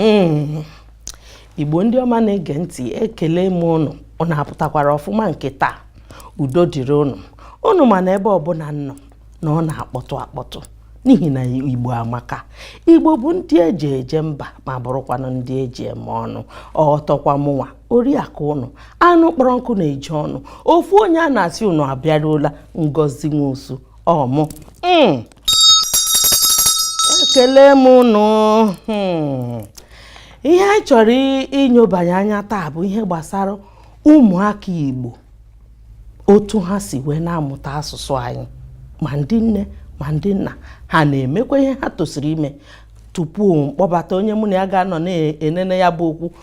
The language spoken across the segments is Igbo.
Hmm. igbo ndị ọma na-ege ntị ekele m ụnụ ụnụ apụtakwara ọfụma nke taa udo dịrị ụnụ ụnụ ma na ebe ọbụla m nọ na ọ na-akpọtụ akpọtụ n'ihi na igbo amaka igbo bụ ndị eji eje mba ma bụrụkwanụ ndị eji eme ọnụ ọtọkwa mụnwa oriakụ ụnụ anụ kpọrọ nkụ na-eju ọnụ ofu onye a na-asị ụnụ abịaruola ngozi nwosu ọ mụ hmm. ekele m ụnụ hmm. ihe anyị chọrọ inyobanye anya taa bụ ihe gbasara ụmụaka Igbo otu ha si wee na-amụta asụsụ anyị ma ndị nne ma ndị nna ha na-emekwa ihe ha tosiri ime tupu mkpọbata onye mụ na ya ga-anọ na-enene ya bụ okwu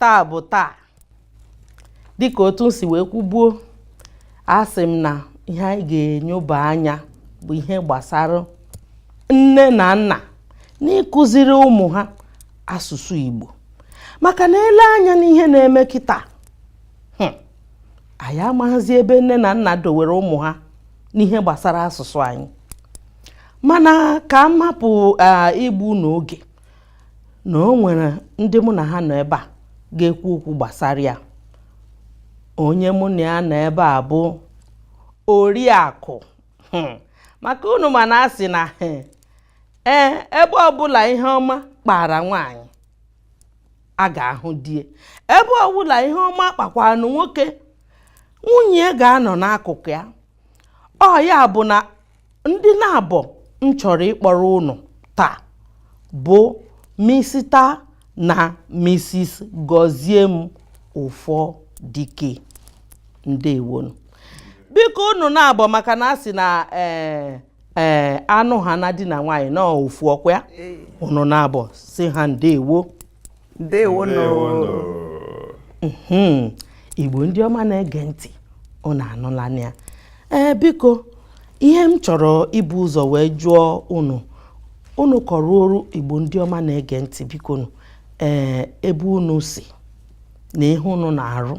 taa bụ taa dịka otu m si wee kwubuo asị m na ihe anyị ga-enyoba anya bụ ihe gbasara nne na nna n'ịkụziri ụmụ ha asụsụ Igbo maka na e lee anya n'ihe na-eme kịtaa hmm, anyị amaghịzi ebe nne na nna dowere ụmụ ha n'ihe gbasara asụsụ anyị mana ka m hapụ igbu unu oge na o nwere ndị mụ na ha nọ ebe a ga-ekwu okwu gbasara ya onye mụ na ya nọ ebe a bụ oriakụ hmm. maka unu ma na a sị na hmm, ee ebe ọbụla ihe ọma kpara nwaanyị a ga-ahụ di e ebe ọbụla ihe ọma kpakwara nwoke nwunye ga-anọ n'akụkụ ya ọ ya bụ na ndị naabọ m chọrọ ịkpọrọ ụnụ taa bụ Misita na Misis Gọziem Ufodike ndewonụ biko unu naabọ maka na a sị na ee eh, ee eh, a nụhaa na di na nwaanyị na ọ ofu ọkwa ya unu naabọ sị ha ndewo ndewonụ mhm. igbo ndị ọma na-ege ntị unu anụla ya ee biko ihe m chọrọ ibu ụzọ wee jụọ unu unu kọọrọ oru igbo ndị ọma na-ege ntị bikonụ ee ebe unu si na ihe unu na-arụ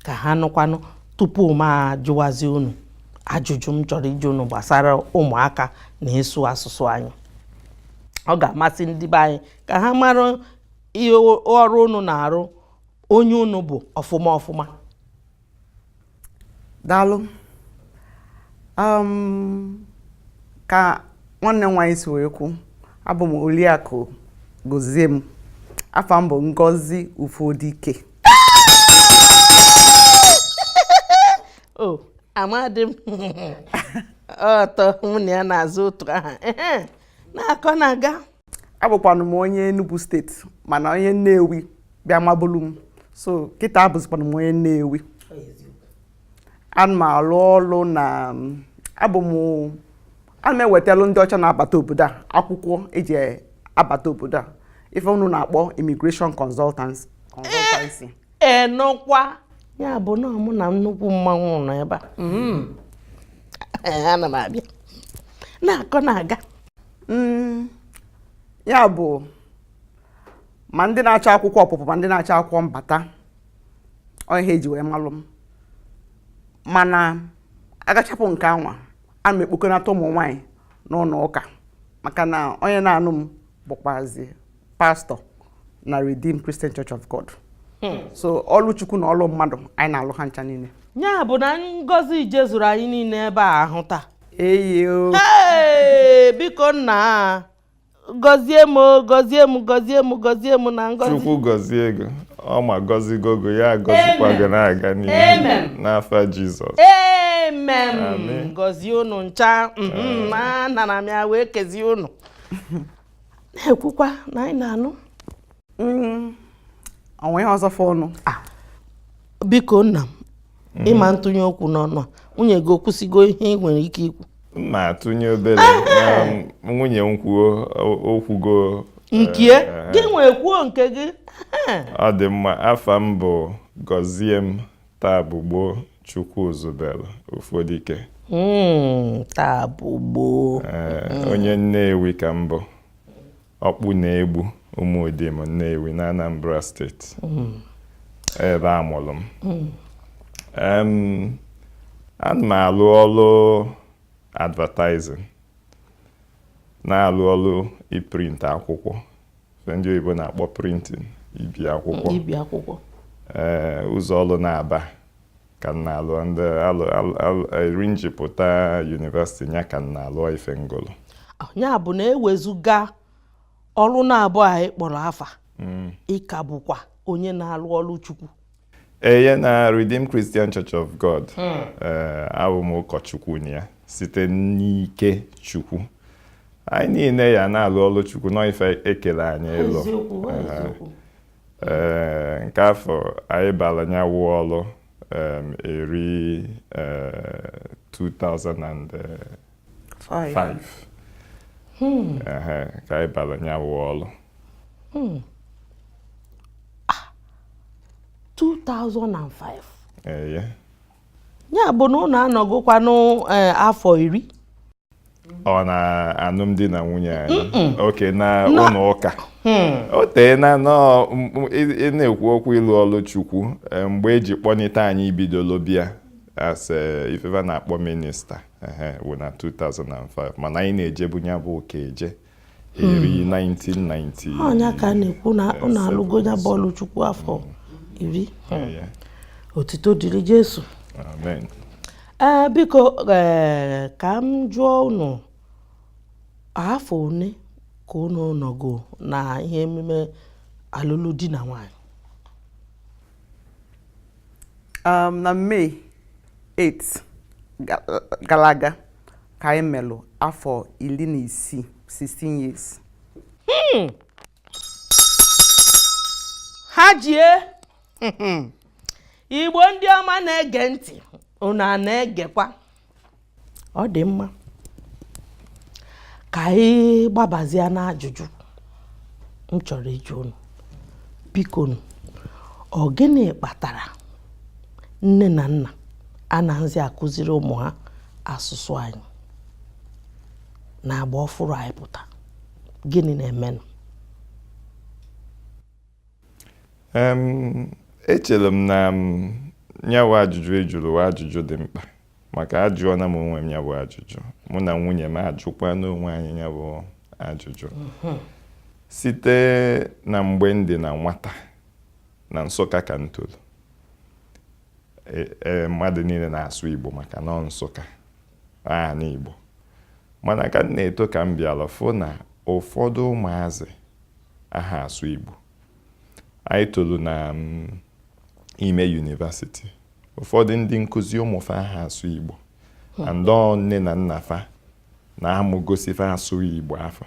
ka ha nụkwanụ tupu m ajụwazi unu ajụjụ m chọrọ ịjụ unu gbasara ụmụaka na ịsụ asụsụ anyị ọ ga-amasị ndị be anyị ka ha mara ihe ọrụ unu na-arụ onye unu bụ ọfụma ọfụma daalụ um, ka nwanne m nwaanyị si wee kwu abụ m Oriakụ Goziem afa m bụ Ngozi Ufodike ọ na-adị m ụtọ mụ na ya na-aza otu aha na-akọ na-aga abụkwanụ m onye Enugu steeti mana onye Nnewi bịa mabulu m so kịta abụzikwanụ m onye Nnewi ana m alụ ọlụ na abụ m ana m ewetalụ ndị ọcha na-abata obodo a akwụkwọ eji abata obodo a ife unu na-akpọ immigration consultancy ị nụkwa ya bụ na mụ na nnukwu mmanwụ nọ ebe a mm. ana m abịa na-akọ na-aga mm. ya bụ ma ndị na-achọ akwụkwọ ọpụpụ ma ndị na-achọ akwụkwọ mbata ọ ihe e ji wee malụ m mana agachapụ nke anwa ana m ekpokọnata ụmụ nwaanyị n'ụlọ ụka maka na onye na-anụ m bụkwazi pastọ na Redeemed Christian Church of God hmm. so ọlụ Chukwu na ọlụ mmadụ anyị na-alụ ha ncha niile ya bụ na ngọzi jezuru anyị niile ebe a ahụ taa eyo biko nna gọzie m gọzie m gọzie m gọzie m na ngọzi Chukwu gọzie gị o ọ ma gọzigo gị ya gọzikwa gị na-aga n'ihu n'afa Jizọs amen gọzie unu ncha mm-hmm. nna na m ya wee kezie unu na-ekwukwa na anyị na-anụ mm, o nwe ihe ọzọ fọọnụ ah. biko nna m mm. ị ma atụnye okwu n'ọnụ a nwunye gị o kwusigo ihe i nwere ike ikwu ma atụnye obere ah. nwunye m kwuo o kwugo nke eh, eh. gị nwee kwuo nke gị ọ dị mma afa m bụ Goziem Tabugbo Chukwuzubelu Ufodike. Hmm, Tabugbo. Eh, onye Nnewi ka m bụ. Okpuno Egbu Ụmụdim Nnewi na Anambra steeti. Hmm. Ebe a mụrụ m. Hmm. Ana m alụ ọlụ advertising. Na-alụ ọlụ iprint akwụkwọ. ndị oyibo na-akpọ printing ibi akwụkwọ ibi akwụkwọ ee ụzọ ọlụ naabọ ka m na-alụ ndị eri m ji pụta university ya ka m na-alụ ife m gụlụ ya bụ na ewezụga ọrụ naabọ a ị kpọrọ afa mm. ị ka bụkwa onye na-alụ ọrụ Chukwu eye na Redeemed Christian Church of God hmm. eh, abụ m ụkọchukwu na ya site n'ike Chukwu anyị niile ya na-alụ ọlụ Chukwu n'ife e kele anyị ịlụ eh, nke afọ anyị bara nya wụ ọlụ eri 2000 eh, 5 hmm. ka anyị bara nya wụ ọlụ 2005 eye ya bụ na unu anọgokwanụ afọ eh, iri ọ na alụmdi na nwunye anyị oke na ụlọ ụka hmm. o tee na ị na-ekwu okwu ịlụ ọlụ Chukwu eh, mgbe e ji kpọnite anyị bidolo bịa as eh, ife fa na-akpọ minista wụ na 2005 mana anyị na-ejebu ya bụ ụka eje eri 1990 hmm. ọ nya ka a na-ekwu na unu alụgo ya bụ ọlụ Chukwu afọ hmm. iri hmm. otito dịrị Jesu amen ee eh, biko eh, ka m jụọ unu afọ one ka unu nọgo na ihe emume alụlụ di na nwanyị um, na May 8 gara aga ka anyị melụ afọ iri na isii 16 years hmm. ha jie Igbo ndị ọma na-ege ntị unu a na-egekwa ọ dị mma ka anyị gbabazie n'ajụjụ m chọrọ ịjụ unu bikonụ ọ gịnị kpatara nne na nna anaghịzi akụziri ụmụ ha asụsụ anyị n'agba ọfụrụ anyị pụta gịnị na-emenụ echere m na nya wụ ajụjụ ị jụrụ wụ ajụjụ dị mkpa maka ajụọna m onwe m nya bụ ajụjụ mụ na nwunye m ajụkwana onwe anyị nya bụ ajụjụ mhm. site na mgbe m dị na nwata na Nsụka ka m toro e, e, mmadụ niile na-asụ Igbo maka na ọ Nsụka ana Igbo mana ka m na-eto ka m bịara fụ na ụfọdụ ụmụazị aha asụ Igbo anyị tolu na mm, ime university ụfọdụ ndị nkụzi ụmụ fa aha asụ Igbo hmm. and nne na nna fa na amụ gosi fa asụsụ Igbo afụ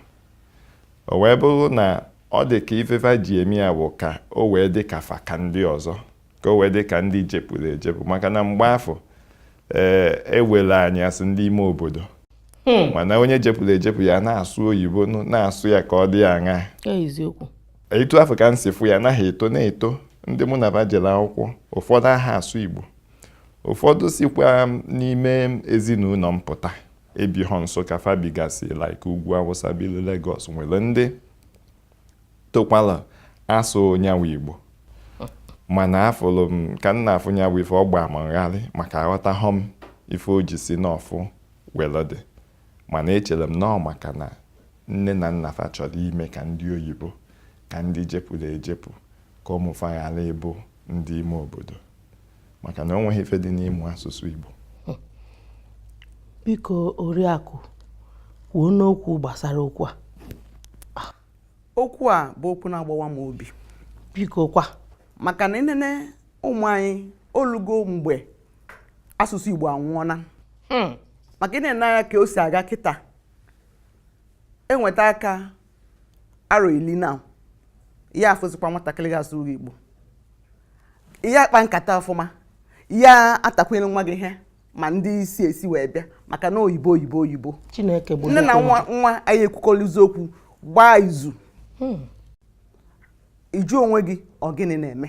o wee bụrụ na ọ dị ka ife fa ji eme ya bụ ka o wee dị ka fa ka ndị ọzọ ka o wee dị ka ndị jepụrụ ejepụ maka na mgbe afụ ee eh, ewere anyị asị ndị ime obodo hmm. mana onye jepụrụ ejepụ ya na-asụ oyibo na-asụ ya ka ọ dị aṅa etu afụ ka m si fụ ya anaghị eto na-eto ndị mụ na fa jere akwụkwọ ụfọdụ aha asụ igbo ụfọdụ sikwa n'ime ezinụlọ m pụta ebighọ Nsụka fa bigasị like ugwu awụsa bilu Lagos nwere ndị tokwala asụ nya wụ igbo mana afụlụ m ka m na-afụ nya wụ ife ọ gbaa m ngharị maka aghọtahọ m ife o ji si nọfụ welu dị mana echere m na ọ maka na nne na nna fa chọrọ ime ka ndị oyibo ka ndị jepụrụ ejepụ ka ụmụ fa ghara ịbụ ndị ime obodo maka na o nweghị ife dị n'ịmụ asụsụ Igbo biko oriakụ kwuo n'okwu gbasara okwu a ah. okwu a bụ okwu na-agbawa m obi biko kwa maka na i nene ụmụ anyị olugo mgbe asụsụ Igbo anwụọna hmm. maka ị na-ene anya ka o si aga kịta e nweta ka arọ ili na ya afụzikwa nwatakịrị ya asụ igbo ya akpa nkata ọfụma ya atakwunye nwa gị ihe ma ndị isi esi wee bịa maka na oyibo oyibo oyibo chineke bụ nne na nwa ya ekwukọrịzi okwu gbaa izu hmm. ị jụọ onwe gị ọ gịnị na-eme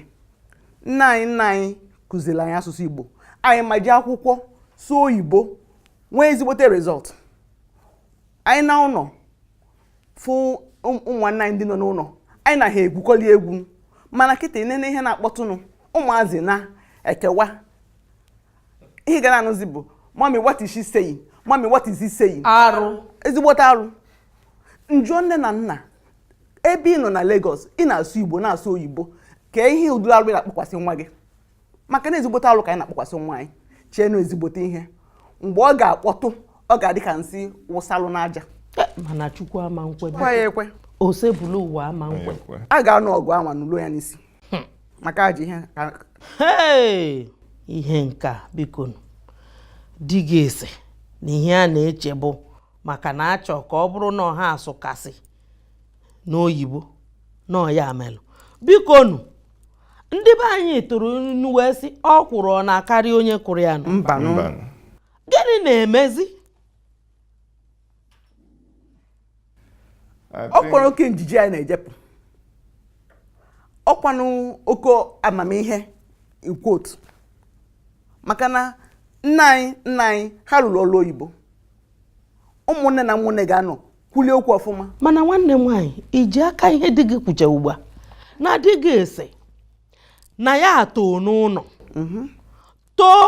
nna anyị nna anyị kụziri anyị asụsụ igbo anyị ma je akwụkwọ sụọ oyibo nwee ezigbote result anyị naa ụlọ fụ ụmụnna anyị ndị nọ n'ụlọ anyị na ha egwukọli egwu mana kịta nene ihe na-akpọtụnụ ụmụazị na-ekewa ihe ị ga na-anụzi bụ mummy what is she saying mummy what is he saying arụ ezigbote arụ m jụọ nne na nna ebe ị nọ na Lagos ị na-asụ Igbo na-asụ oyibo kee ụdịrị arụ ị na-akpọkwasị nwa gị maka na ezigbote alụ ka anyị na-akpọkwasị nwa anyị chee na ọ ezigbote ihe mgbe ọ ga-akpọtụ ọ ga-adị ka nsị wụsalụ n'aja eh, mana chukwu ama nkwe ya ekwe Osebụlụwa ama nkwe a ga-anụ ọgụ anwa nụluo ya n'isi hmm. maka ajọ ihe ihe nke a bikonu ndị ga-asị na ihe a na-eche bụ maka na a chọ ka ọ bụrụ na ọ ha asụkasị n'oyibo na ọ ya melụ bikonu ndị be anyị tụrụ inu wee sị ọkwụrụ ọ na-akarị onye kụrụ ya nụ mbanụ Mbanụ. gịnị na-emezi I ọ think- kwara oke njenje anyị na-ejepụ ọkwanụ oke amamihe ikwotu maka na nna anyị nna anyị ha rụrụ ọrụ oyibo ụmụnne na ụmụnne ga-anọ kwulie okwu ọfụma mana nwanne m nwaanyị iji aka ihe di gị kwucha ugbu a na di gị sị na ya too n'ụlọ mhm. too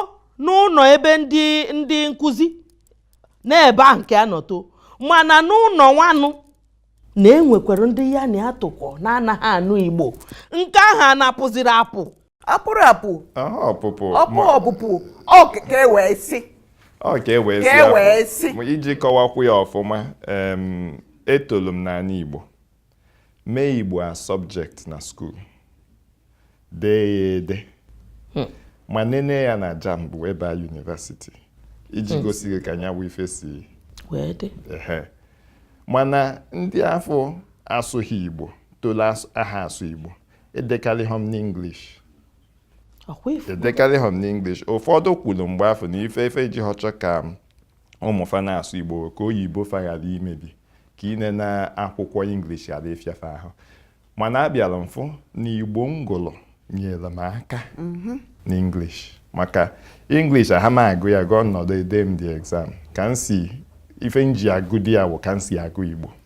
n'ụlọ ebe ndị ndị nkụzi na-ebi ahụ nke a nọ too mana n'ụlọ nwanụ na enwekwara ndị ya na ya tokọ na-anaghị anụ igbo nke ahụ anapụziri apụ apụrụ apụ Aha ọpụpụ ọpụ ma- ọpụpụ ọ ka ka e wee sị ọ ka e wee ka sị e ahụ. wee sị Ma iji kọwakwu ya ọfụma em, etolu m n'anị Igbo mee Igbo as subject na school dee ya ede ma nene ya na JAMB wee baa university iji gosi gị ka nya bụ ife si wee dị ehe mana ndị afụ asụghị Igbo tolu as- aha asụ Igbo edekarịha m n'English ọkwa ị fụ edekarịha m n'English ụfọdụ kwuru mgbe afụ na ife fa ji aha achọ ka ụmụ fa na-asụ Igbo ka oyibo fa ghara imebi ka inene akwụkwọ English ghara ịfịa fa ahụ mana abịara m fụ na Igbo m gụlụ nyere m aka mhm. n'English maka English aha m agụ ya agụ nnọdụ ede m the exam ka m si ife m ji agụdị ya wụ ka m si agụ Igbo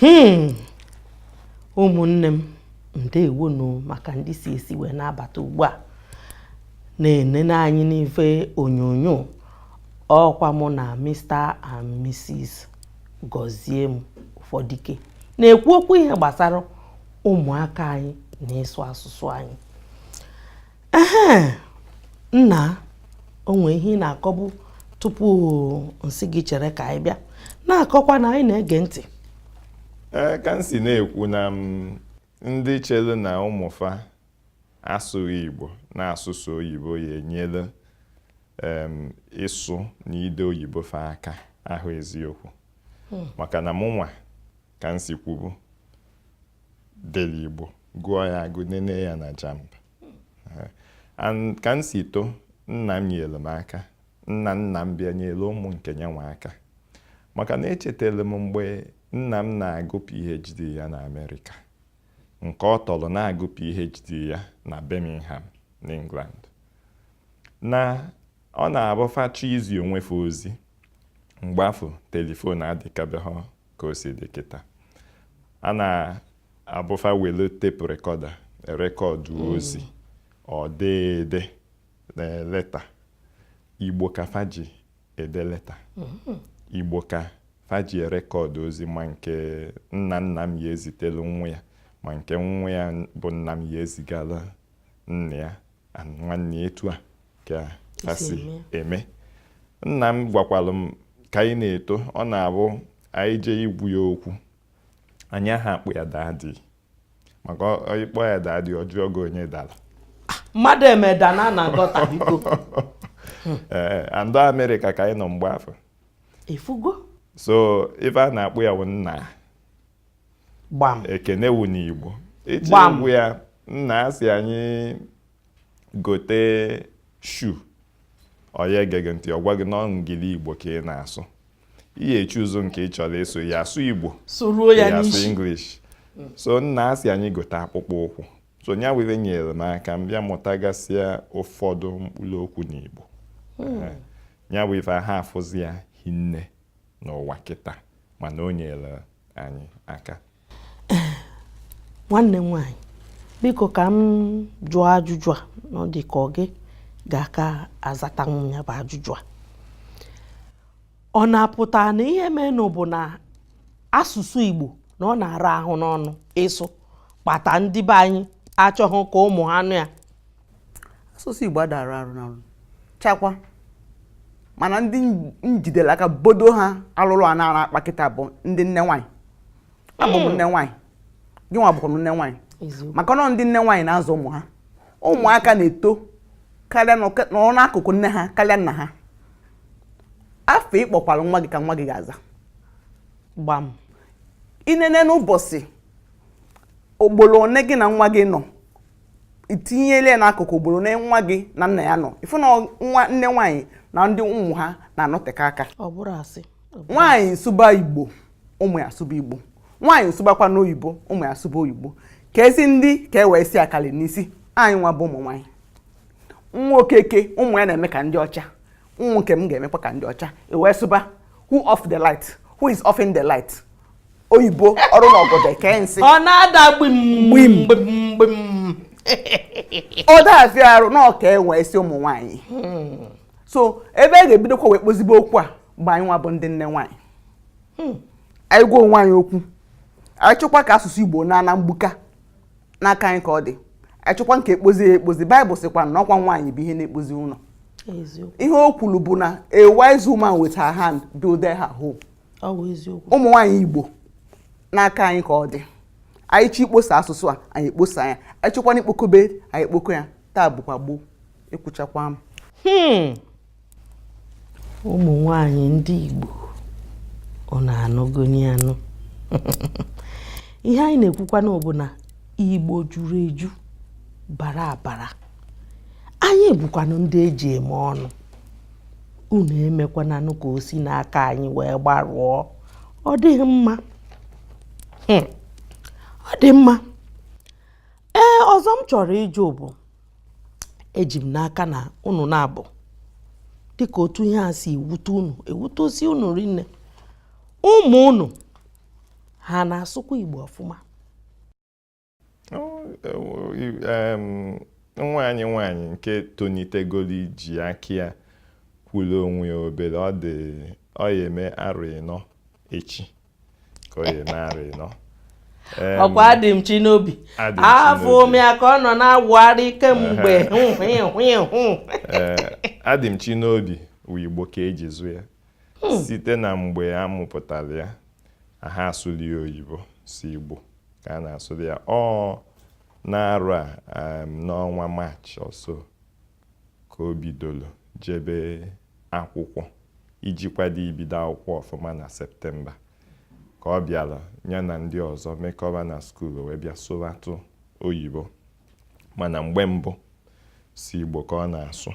hmm. ụmụnne m ndewonu maka ndị si esi wee na-abata ugbu a na-enene anyị n'ife onyonyo ọkwa mụ na Mr and Mrs Gọziem Ụfọdike na-ekwu okwu ihe gbasara ụmụaka anyị na ịsụ asụsụ anyị ehe nna o nwe ihe ị na-akọbu tupu m sị gị chere ka anyị bịa na-akọkwa na anyị na-ege ntị ee ka m si na-ekwu na ndị chelu na ụmụ fa asụghị igbo na-asụ sọ oyibo ya-enyelụ ịsụ na ide oyibo fa aka awụha eziokwu hmm. maka na mụnwa ka m si kwubu dere Igbo gụọ ya agụ nene ya na JAMB ka m si too nna m nyere m aka nna nna m bịa nyere ụmụ nke ya nwa aka maka na echetara m mgbe nna m na-agụ PhD ya na Amerịka nke ọ tọrọ na-agụ PhD ya na Birmingham n'England na ọ na-abụ fa chọọ izi onwe fa ozi mgbe afụ telifon adịkabeghị ka o si dị kịta ọ na-abụ fa welu tape recorder rekọdụ mm. ozi or dee ede na leta igbo ka fa ji ede leta mm-hmm. igbo ka fa ji erekọdụ ozi ma nke nna nna m ya-ezitelu nwa ya ma nke nwa ya bụ nna m ya-ezigalụ nna ya nwanne etu a ka ha si eme nna m gwakwalụ m ka anyị na-eto ọ na-abụ anyị jee ịgwa ya okwu anyị aha akpọ ya daddy maka ị kpọọ ya daddy ọ jụọ gị onye dara mmadụ emeda na na gọta biko ee and ọ amerịka ka anyị nọ mgbe afụ ị fụgo so ife a na-akpọ ya bụ nna gbam ekene wu n'igbo ị jee Gbam. ịgwa ya nna sị anyị gote shoe ọ ya ege gị ntị ọ gwa gị na ọ Engli-Igbo ka ị na-asụ ị ya-echoose nke ị chọrọ ịsụ ya asụ igbo sụruo ya ya asụ n'isi english so nna a sị anyị gote akpụkpọ ụkwụ so nya were nyere m aka m bịa mụtagasịa ụfọdụ mkpụrụ okwu n'igbo Eh, nya bụ ife ha afụzi ya hinne n'ụwa kịta mana o nyere anyị aka nwanne m nwaanyị biko ka m jụọ ajụjụ a na ọ dị ka ọ gị ga-aka azatanwu ya bụ ajụjụ a ọ na-apụta na ihe menụ bụ na asụsụ Igbo na ọ na-ara ahụ n'ọnụ ịsụ kpata ndị be anyị achọghị ka ụmụ ha nụ ya asụsụ Igbo ada ara arụ n'ọnụ chakwa mana ndị m jidere aka bodo ha alụrụ a na-ara akpa kịta bụ ndị nne nwaanyị abụ m nne nwaanyị gị nwa bụkwa nne nwaanyị maka na ọ ndị nne nwaanyị na-azụ ụmụ ha ụmụaka na-eto karịa nọrọ n'akụkụ nne ha karịa nna ha afa ị kpọkwara nwa gị ka nwa gị ga-aza gbam i nenee n'ụbọchị ogboro one gị na nwa gị nọ i tinyele ya n'akụkụ ogboro one nwa gị na nna ya nọ ị fụ na nwa nne nwaanyị na ndị ụmụ ha na-anọteka aka nwaanyị sụba igbo ụmụ ya asụba igbo nwaanyị sụbakwanụ oyibo ụmụ ya asụba oyibo ka e zi ndị ka e wee si akali n'isi anyị nwa bụ ụmụ nwaanyị nwa okeke ụmụ ya na-eme ka ndị ọcha ụmụ nke m ga-emekwa ka ndị ọcha e wee sụba who off the light who is offing the light oyibo ọrụ na ọgọdọ eke nsị ọ na-ada gbim gbim gbim ọ dazi arụ na ọka enwe isi ụmụ nwaanyị hmm. so ebe a ga-ebidokwa wee kpozibe okwu a bụ anyị nwa bụ ndị nne nwaanyị hmm. anyị gwa onwe anyị okwu anyị chọkwa ka asụsụ igbo naa na mgbuka n'aka anyị ka ọ dị anyị chọkwanụ ka e kpozie ya ekpozi baịbụl sịkwa na ọkwa nwaanyị bụ ihe na-ekpozi ụlọ ihe o kwuru bụ na a wise woman with her hand build her home ụmụ nwaanyị Igbo n'aka anyị ka ọ dị anyị chọ ikposa asụsụ a anyị ekposa ya anyị chọkwanụ ikpokobe anyị ekpoko ya taa bụkwa gboo ekwuchakwa m hmm. ụmụ nwanyị ndị Igbo unu anụgonụ anụ ihe anyị na-ekwukwanụ bụ na Igbo juru eju bara abara anyị bụkwanụ ndị eji eme ọnụ unu emekwananụ ka o si n'aka anyị wee gbarụọ ọ dịghị mma hmm. ọ dị mma ee ọzọ m chọrọ ịjụ bụ eji m n'aka na unu na-abụ dịka otu ihe a si ewute unu ewutesi unu rinne ụmụ unu ha na-asụkwa Igbo ọfụma nwa anyị nwaanyị nke tonitegolo iji aka ya kwulu onwe ya obere ọ ya eme arọ ịnọ echi ka ọ ya eme arọ ịnọ ọkwa Adịmchinobi afụ m ya ka ọ nọ na-awụgharị kemgbe Adịmchinobi wụ igbo ka eji zụ ya hmm. site na mgbe a mụpụtara ya aha asụlị ya oyibo sọ Igbo ka a na-asụlị ya ọ n'arọ a um, n'ọnwa maachị ọso ka o bidoro jebe akwụkwọ iji kwado ibido akwụkwọ ọfụma na septemba ka ọ bịara ya na ndị ọzọ mekọba na skuul wee bịa sụbatụ oyibo mana mgbe mbụ sọ Igbo ka ọ na-asụ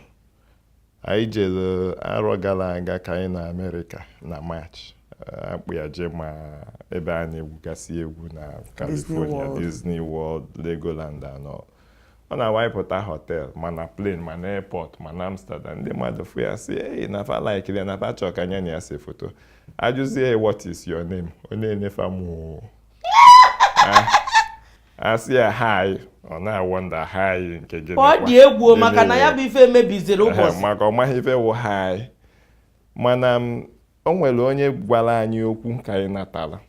anyị jere arọ gara aga ka anyị na amerịka na maachị akpọ ya je ma ebe a na-egwugasị egwu na California Disney World Legoland and all ọ na-awụ ị pụta họtel ma na plen ma na airport ma na Amsterdam ndị mmadụ fụ ya sị ei na fa laịkịrị ya na fa chọọ ka nya na ya se foto ajụzie what is your name ọ na-ene fa m a sị ya hi ọ na-awọnda hi nke gịnị ọ dị egwu maka na ya bụ ife mebiziri ụbọchị maka ọ maghị ife wụ hi mana o nwere onye gwara anyị okwu ka anyị natara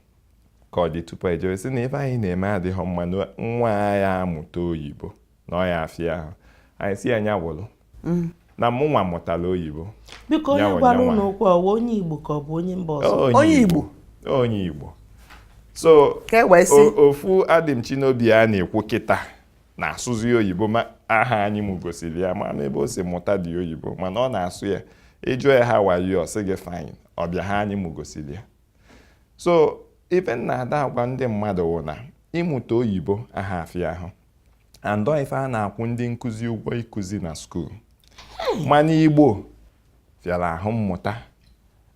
ka ọ dị tupu ejewe sị na ife anyị na-eme adịghị mma nwa ya amụta oyibo na ọ ya afịa ahụ anyị sị ya nya wụlụ mm. na mụ nwa mụtara oyibo biko onye gwara unu okwu ọ wụ onye igbo ka ọ bụ onye mba ọzọ onye igbo onye igbo so e ofu Adịmchinobi a na-ekwu kịta na-asụzi oyibo ma aha anyị mụ gosiri ya ma n'ebe o si mụtadị oyibo mana ọ na-asụ ya ị jụọ ya how are you ọ sị gị fine ọbịa ha anyị mụ gosiri ya so ife m na-ada agwa ndị mmadụ wụ na ịmụta oyibo aha afịa ahụ and ọ ife a na-akwụ ndị nkụzi ụgwọ ịkụzi na skuul mana igbo fịara ahụ mmụta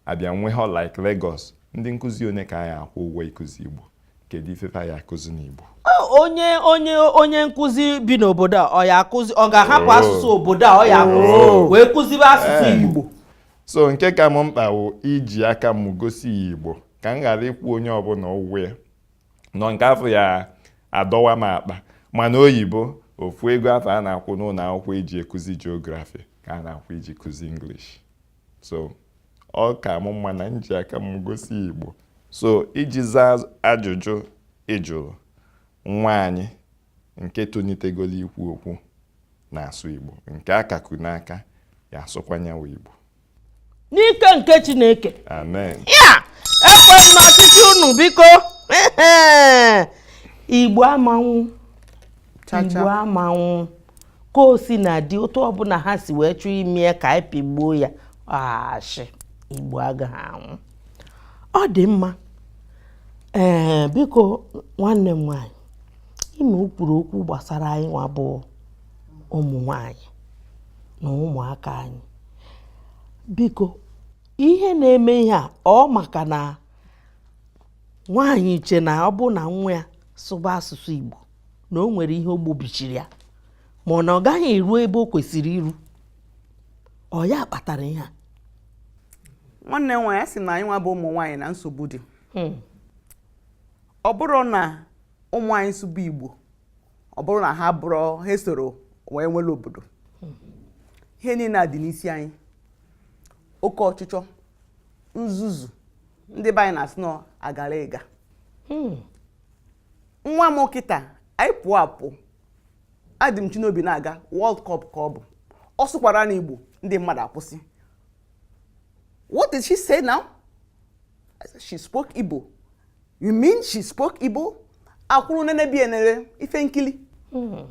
abịa nwee ha like Lagos ndị nkụzi onye ka a ya-akwụ ụgwọ ịkụzi igbo kedu ife ya akụzi n'igbo onye onye onye nkụzi bi n'obodo a ọ ya akụzi ọ ga-ahapụ oh. asụsụ obodo a ọ ya akụzi oh. wee kụzibe asụsụ eh. igbo so nke ka m mkpa wụ iji aka m gosi ya igbo ka m ghara ịkwụ onye ọbụla ụgwọ ya na ọ nke afụ ya-adọwa m akpa mana oyibo ofu ego afụ a na-akwụ n'ụlọ akwụkwọ iji akuzi geography ka a na-akwụ iji kuzi English so ọ ka mụ mma na m ji aka m gosi Igbo so iji zaa ajụjụ ị jụrụ nwa anyị nke tonitegolo ikwu okwu na-asụ Igbo nke a ka ku n'aka ya asụkwanyewa Igbo n'ike nke chineke amen ya ekwe m n'ọchịchị unu biko igbo ama nwụ igbo ama nwụ ka o sina dị otu ọbụla ha si wee chọọ ime ya ka anyị pịgbuo ya ashị igbo agaghị anwụ ọ dị mma ee biko nwanne m nwanyị ime o kwuru okwu gbasara anyị nwa bụ ụmụ nwanyị na ụmụaka anyị biko ihe na-eme ihe a ọ maka na nwaanyị che na ọ bụ na nwa ya sụba asụsụ Igbo na o nwere ihe o gbobichiri ya ma ọ na ọ gaghị eru ebe o kwesịrị iru ọ ya kpatara ihe a nwanne m nwaanyị sị na anyị nwa bụ ụmụ nwaanyị na nsogbu dị hmm. ọ bụrụ na ụmụ anyị sụba Igbo ọ bụrụ na ha bụrụ ha esoro wee nwere obodo ihe niile a dị n'isi anyị oke ọchịchọ nzuzu ndị be anyị na-asị na agara ịga hmm. nwa m kịta anyị pụọ apụ adị m Chinobi na-aga World Cup ka ọ bụ ọ sụkwara na Igbo ndị mmadụ akwụsị what did she say now she spoke Igbo You mean she spoke Igbo? Akwụrụ nene bịa nere ife nkili. Hmm.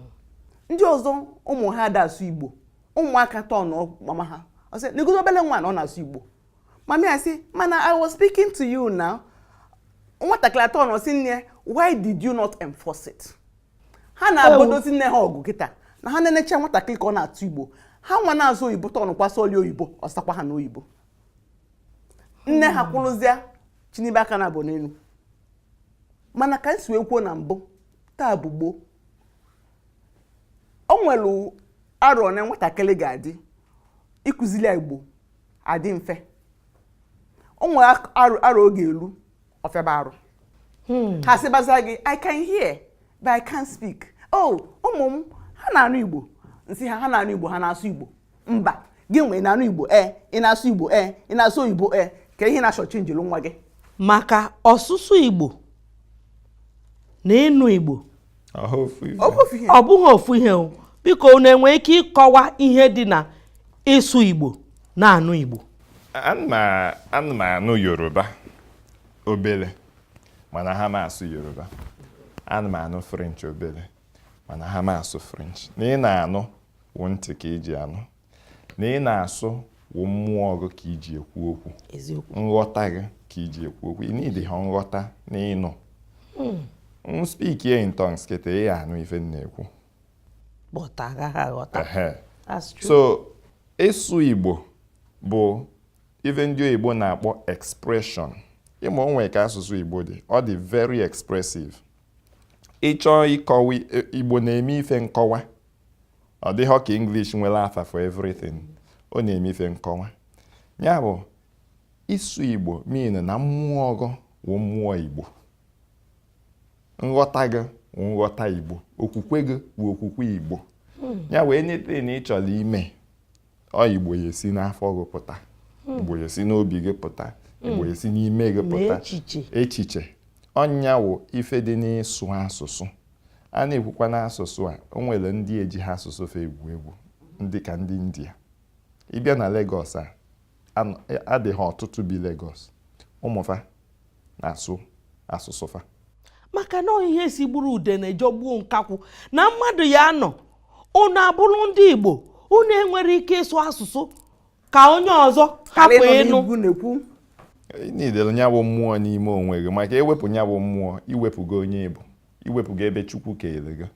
Ndị ọzọ ụmụ ha ada asụ Igbo. Ụmụaka atọ na mama ha. Ọ sị, negodo obele nwa na ọ na-asụ Igbo. Mummy asị, mana I was speaking to you now. Nwatakịrị atọ nọ sị nne, why did you not enforce it? Ha na-agbadozi nne ha ọgụ kịta na ha na-enecha nwatakịrị ka ọ na-asụ Igbo. Ha nwa na-asụ oyibo tọọ nụkwa sọli oyibo, ọ sakwa ha n'oyibo. Nne ha hmm. kwụrụzịa chinibe aka naabọ n'elu mana ka m si wee kwuo na mbụ taa bụ gboo o nwere arọ nwatakịrị ga-adị ịkụzili ya igbo adị mfe o nwere arọ ọ ga-elu ọ fịaba arụ hmm. ha sịbaza gị i can hear but i can't speak oh ụmụ m ha na-anụ igbo m sị ha ha na-anụ igbo ha na-asụ igbo mba gị nwa na-anụ igbo e ị na-asụ igbo e ị na-asụ oyibo e ka ị na-ashortchange nwa gị maka ọsụsụ igbo na ịnụ igbo ọ bụghị ofu ihe o biko unu enwe ike ịkọwa ihe dị na ịsụ igbo na ịnụ igbo ana m anụ yoruba obele ma anaha m asụ yoruba ana m anụ french obele ma anaha m asụ french na ị na-anụ wụ ntị ka iji anụ na ị na-asụ wụ mmụọ gị ka iji ekwu okwu nghọta gị ka iji ekwu okwu ị needịha nghọta na ịnụ hmm. m speak in tongues kịta ị anụ ife m na-ekwu so ịsụ Igbo bụ ife ndị oyibo na-akpọ expression ị ma o nwe ka asụsụ Igbo dị ọ dị very expressive ị chọọ ịkọwa Igbo na-eme ife nkọwa ọ dịghọ ka English nwere afa for everything ọ na-eme ife nkọwa nya bụ ịsụ Igbo mean na mmụọ gị wụ mmụọ Igbo nghọta gị wụ nghọta Igbo okwukwe gị wụ okwukwe Igbo nya wụ anything ị chọrọ ime ọ igbo ya esi n'afọ gị pụta hmm. igbo ya esi n'obi gị pụta hmm. igbo ya esi n'ime gị pụta echiche ọ nya wụ ife dị n'ịsụ asụsụ a na-ekwukwa n'asụsụ a o nwere ndị ejiha asụsụ fa egwu egwu ndị ka ndị india ị bịa na Lagos a a dị ha ọtụtụ bi Lagos ụmụ fa na-asụ asụsụ fa maka na ihe si gburu ude na-ejọgbuo nkakwụ na mmadụ ya anọ unu abụrụ ndị Igbo unu enwerọ ike ịsụ asụsụ ka onye ọzọ hapụ ịnụ needịrị nya bụ mmụọ n'ime onwe gị maka e wepụ nya bụ mmụọ i wepụgo onye Igbo i wepụgo ebe Chukwu kere gị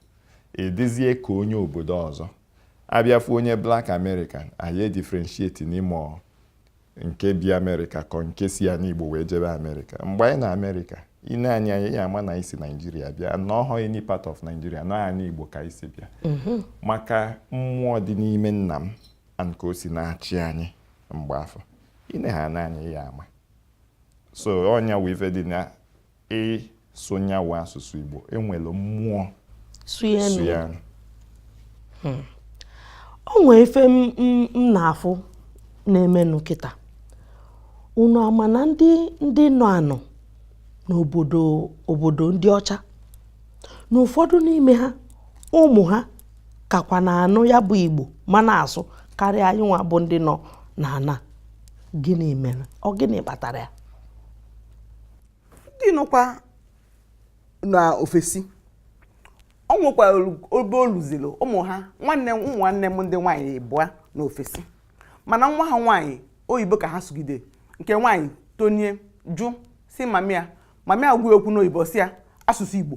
ị dịzie ka onye obodo ọzọ a bịa fụ onye Black American a ya edifferentiate n'ime nke bi amerịka ka ọ nke si anị igbo wee jebe amerịka mgbe anyị nọ amerịka i nee anyị anya ị ya ama na anyị si naijiria bịa na ọhọ any part of naijiria na ọ anị igbo ka anyị si bịa mhm. maka mmụọ dị n'ime nna m and ka o si na-achị anyị mgbe afụ i nee ha n'anya ị ya ama so ọ nya wụ ife dị na ịsụ nyawa asụsụ Igbo e were mmụọ sụ ya nụ hmm. o nwee ife m na-afụ na-emenụ kịta unu ama na ndị ndị nọ anọ n'obodo obodo ndị ọcha na ụfọdụ n'ime ha ụmụ ha kakwa na-anụ ya bụ Igbo ma na-asụ karịa anyị nwa bụ ndị nọ n'ana gịnị mere ọ gịnị kpatara ya ndị nọkwa na ofesi o nwekwa obe o luziri ụmụ ha nwanne ụmụ nwanne m ndị nwaanyị abụọ nọ ofesi mana nwa ha nwaanyị oyibo ka ha sụgide nke nwaanyị tonie jụ sị mama ya mama ya gwa ya okwu n'oyibo sị ya asụsụ igbo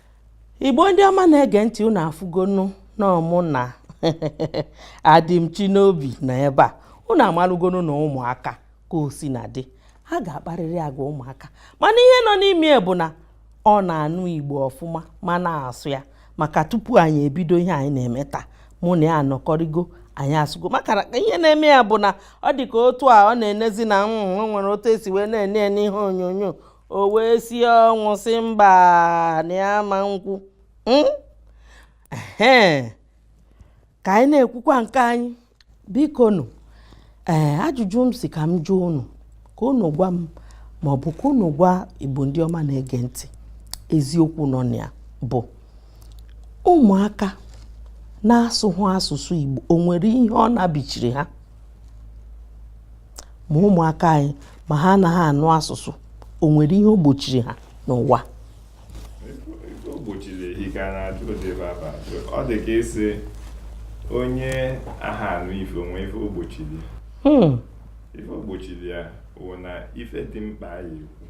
igbo ndị ọma na-ege ntị unu afụgonu na ọ mụ na Adịmchinobi nọ ebe a unu amalụgonu na ụmụaka ka o sina dị ha ga-akparịrị agwa ụmụaka mana ihe nọ n'ime bụ na ọ na-anụ igbo ọfụma ma na-asụ ya maka tupu anyị ebido ihe anyị na-eme taa mụ na ya anọkọrịgo anyị asụgo maka ihe na-eme ya bụ na ọ dị ka otu a ọ na-enezi na mm, nwere otu e si wee na-ene ya n'ihe onyonyo o wee si ọnwụ sị mba na ya ma ekwu hmm? ka anyị na-ekwukwa nke anyị biko nụ ee eh, ajụjụ m sị ka m jụọ unu ka unu gwa m ma ọ bụ ka unu gwa igbo ndị ọma na-ege ntị eziokwu nọ na ya bụ ụmụaka na-asụhụ asụsụ igbo o nwere ihe ọ nabichiri ha ma ụmụaka anyị ma ha anaha anụ asụsụ o nwere ihe o gbochiri ha n'ụwa ọ dị ka ịsị onye aha anụ ife o nwe ife o gbochiri ya hmm. ife o gbochiri ya wụ na ife dị mkpa a ya-ekwu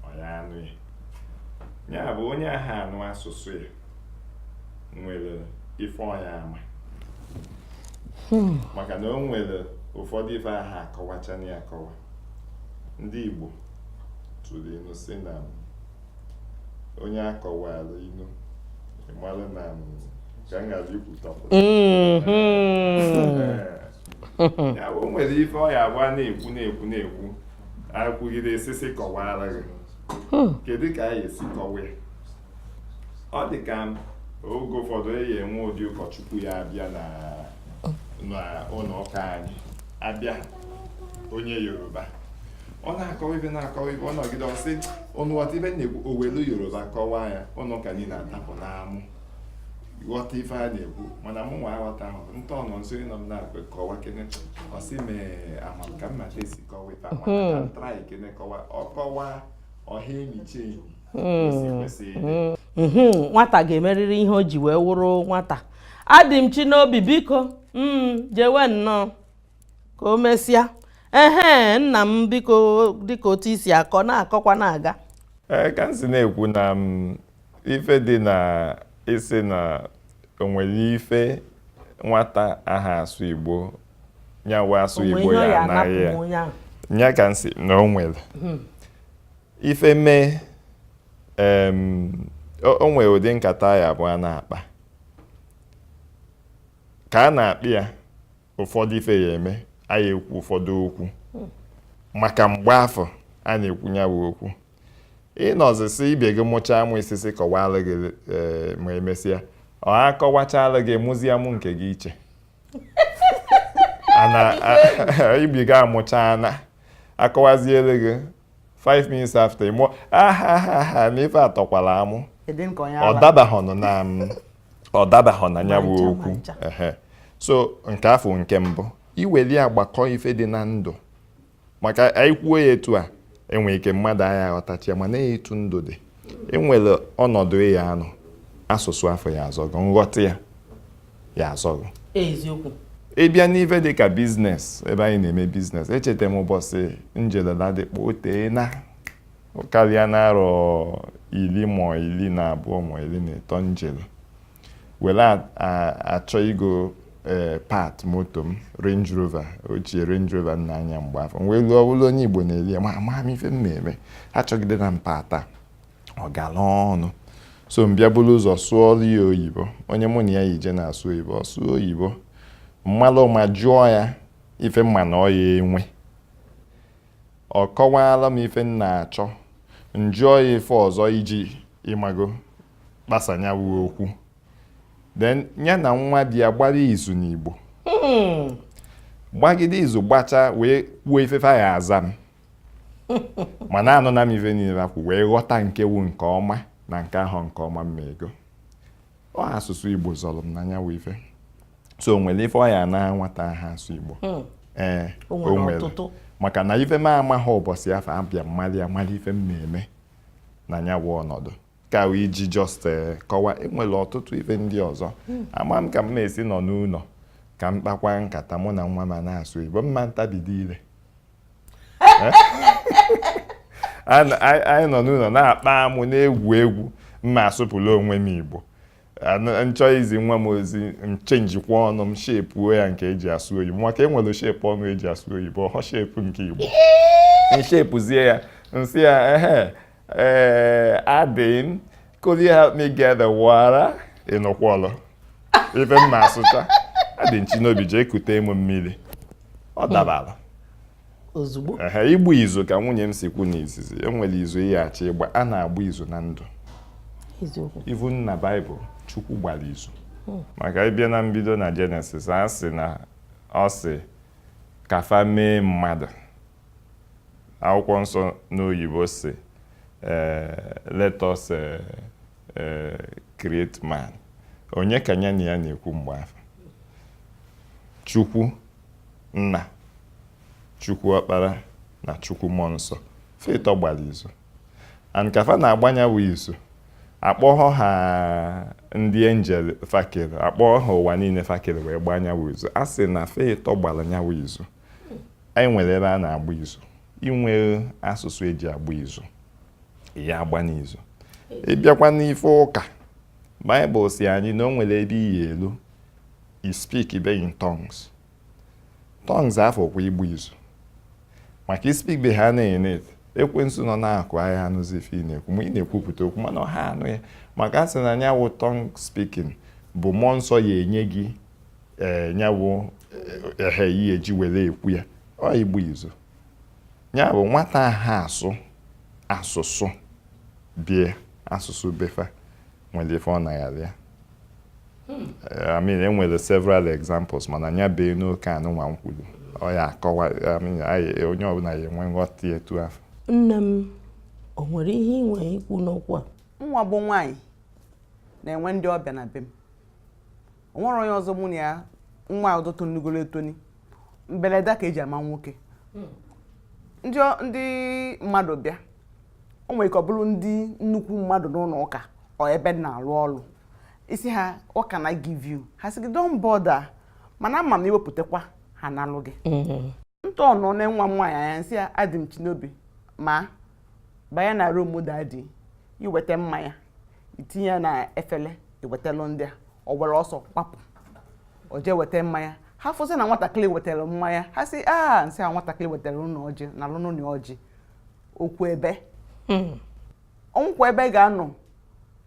ọ ya anụ ya ya bụ onye aha anụ asụsụ ya nwere ife ọ ya ama hmm. maka na o nwere ụfọdụ ife aha akọwachanị akọwa ndị Igbo tụrụ inu sị na onye a kọwara inu ị mara na ka m ghara ikwutapụ ya bụ o nwere ife ọ ya-abụ a na-ekwu na-ekwu na-ekwu e kwugide e si si kọwara gị hmm. kedu ka a ya-esi kọwa ya ọ dị ka oge ụfọdụ eyi enwe ụdị ụkọchukwu ya abịa n'ụnọ ụka anyị abịa onye yoruba ọ na-akọwa ife na-akọwa ife ọ nọgide ọ sị ụnụ ghọta ife na-ekwu o welu yoruba kọwaa ya ụnọ ụka niile atapụ n'amụ ghọta ife a na-ekwu mana mụ nwa aghọtahọ nta ọnọ nso ịnọ m na-akwe kọwa kene ọ sị m ee ama m ka mmata esi kọwa ife ahụ hmm. try kene kọwa ọ kọwa ọha enyi chi enyi hmm. hmm. Hmm. nwata ga-emerịrị ihe o ji wee wụrụ nwata adị m chi n'obi biko jewe nnọọ ka o mesịa ehe nna m biko dịka otu i si akọ na-akọkwa na-aga ee ka m si na-ekwu na ife dị na isi na o nwere ife nwata aha asụ Igbo nya wụ asụ Igbo ya anaghị ya ya ka m si na o nwere hmm. ife mee o nwere ụdị nkata ya bụ a na-akpa ka a na-akpa ya ụfọdụ ife ya-eme anyị ekwu ụfọdụ okwu maka mgbe afụ a na-ekwu ya bụ okwu ị nọzisi ibe gị amụchaa amụ ị sị sị kọwara gị e, ma emesịa a kọwachala gị ị mụzie amụ nke gị iche ibe gị amụchaana akọwaziere gị 5 minutes after ị mụọ ahahaha na ife atọkwala amụ ọ dabahọnụ na ọ dabahọ na ya bụ okwu so nke afụ nke mbụ i weli agbakọ ife dị na ndụ maka anyị kwuo ya etu a e nwere ike mmadụ aya aghọtacha ya mana etu ndụ dị e nwere ọnọdụ ị ya-anọ asụsụ afụ ya-azọ gụ nghọta ya ya-azọ gụ eziokwu ị bịa n'ife dị ka business ebe anyị na-eme business echeta m ụbọchị m jele Ladipo o teena ọ karịana arọ iri ma iri na abụọ ma iri na ịtọ m jele were achọ igo eh, part moto m Range Rover ochie Range Rover m na-anya mgbe afụ m wee luo ọ bụlụ onye Igbo na-ele ya ma ama m ife m na-eme achọgide na mpata ọ gala ọnụ so m bịa buru ụzọ sụọrọ ya oyibo onye mụ na ya yi je na-asụ oyibo ọ sụọ oyibo m malụ ụma jụọ ya ife m ma na ọ ya-enwe ọ kọwaala m ife m na-achọ m jụọ ya ife ọzọ iji ị mago kpasanya wuo okwu then ya na nwa di ya gbara izu n'Igbo hmm. gbagide izu gbachaa wee kwuo ife fa ya-aza m mana anụna m ife niile e kwu wee ghọta nke wụ nke ọma na nke ahụ nke ọma m ma ego ọ asụsụ Igbo zọrọ m na ya wụ ife so o nwere ife ọ ya-ana nwata aha asụ Igbo hmm. ee o nwere maka na ife m amaghị ụbọchị afụ abịa m malị amalị ife m na-eme na ya bụ ọnọdụ ka iji just eh, kọwa enwere ọtụtụ ife ndị ọzọ ama m ka m na-esi nọ n'ụlọ ka m kpakwa nkata mụ na nwa m na-asụ igbo ma m tabido ire eh? anyị nọ n'ụlọ na-akpa amụ na-egwu egwu m na-asụpụrụ onwe m igbo m chọọ izi nwa m ozi m chenjikwa ọnụ m shepuo ya nke eji asụ oyibo maka enwere shepu ọnụ eji asụ oyibo ọhọ shepu nke igbo m shepuzie ya m sị ya ehe Eh, Adịm, could you help me get the water? Ị nụkwọlụ ife m na-asụcha. Adịmchinobi jee kute m mmiri. Ọ hmm. dabara. Ozugbo. Ehe, ịgba izu ka nwunye m si kwu n'izizi. E nwere izu ị ya-achọ ịgba. A na-agba izu na ndụ. Eziokwu. Even na Baịbụl, Chukwu gbara izu. Hmm. Maka ị bịa na mbido na Jenesis, a sị na ọ sị ka fa mee mmadụ. akwụkwọ nsọ n'oyibo sị eh, let us eh, eh, create man onye ka ya na ya na-ekwu mgbe afụ chukwu nna chukwu ọkpara na chukwu mmụọ nsọ fa ịtọ gbara izu and ka fa na-agba nya bụ izu akpọghọ ha ndị angel fa kere akpọghọ ha ụwa niile fa kere wee gbaa nya wụ izu a sị na fa ịtọ gbara nya wụ izu anyị nwere ebe a na-agba izu inwe asụsụ eji agba izu ị ya-agba n'izu ị bịakwa n'ife ụka baịbụl sị anyị na o nwere ebe ị ya-elu i speakibe in tongues tongues afụ ọ kwa ịgba izu maka i speakibe ha na-ene ekwensu nọ n'akụkụ a ya-anụzi ife ị na-ekwu ma ị na-ekwupụta okwu mana ọ ha anụ ya maka a sị na nya wụ tongue speaking bụ mmụọ nsọ ya enye gị ee eh, nyawụ ehe eh, ihe eji were ekwu ya ọ ịgba izu ya bụ nwata ha asụ asụsụ be ya asụsụ be fa nwere ife ọ na-aghara ya hmm. eh, I mean enwere several examples mana nya bee n'oke anụnwa m kwuru ọ ya akọwa onye ọbụla ya enwe nghọta etu afụ nne m o nwere ihe ị nwere ikwu n'okwu a mụnwa bụ nwaanyị na-enwe ndị ọbịa na be m o nwere onye ọzọ mụ na ya nwa ọzọ tonigoro etoni mberede ka eji ama nwoke hmm. ndị mmadụ bịa o nwere ike ọ bụrụ ndị nnukwu mmadụ n'ụlọ ụka or ebe m na-arụ ọrụ ị sị ha what can I give you ha sị gị don't bother mana ama m i wepụtakwa ha nalụ gị hmm. ntọnụ nee nwa m nwaanyị anya nsị ya adịmchinobi ma banye na rum dadi iweta mmanya itinye ya na efele iwetalụ ndị a ọ were ọsọ gbapụ o jee weta mmanya ha fụsị na nwatakịrị wetara mmanya ha sị aa nsị a nwatakịrị wetara unu ọjị nalụnụ ya ọjị ọ kwụ ebe ọ nọkwa ebe ga-anọ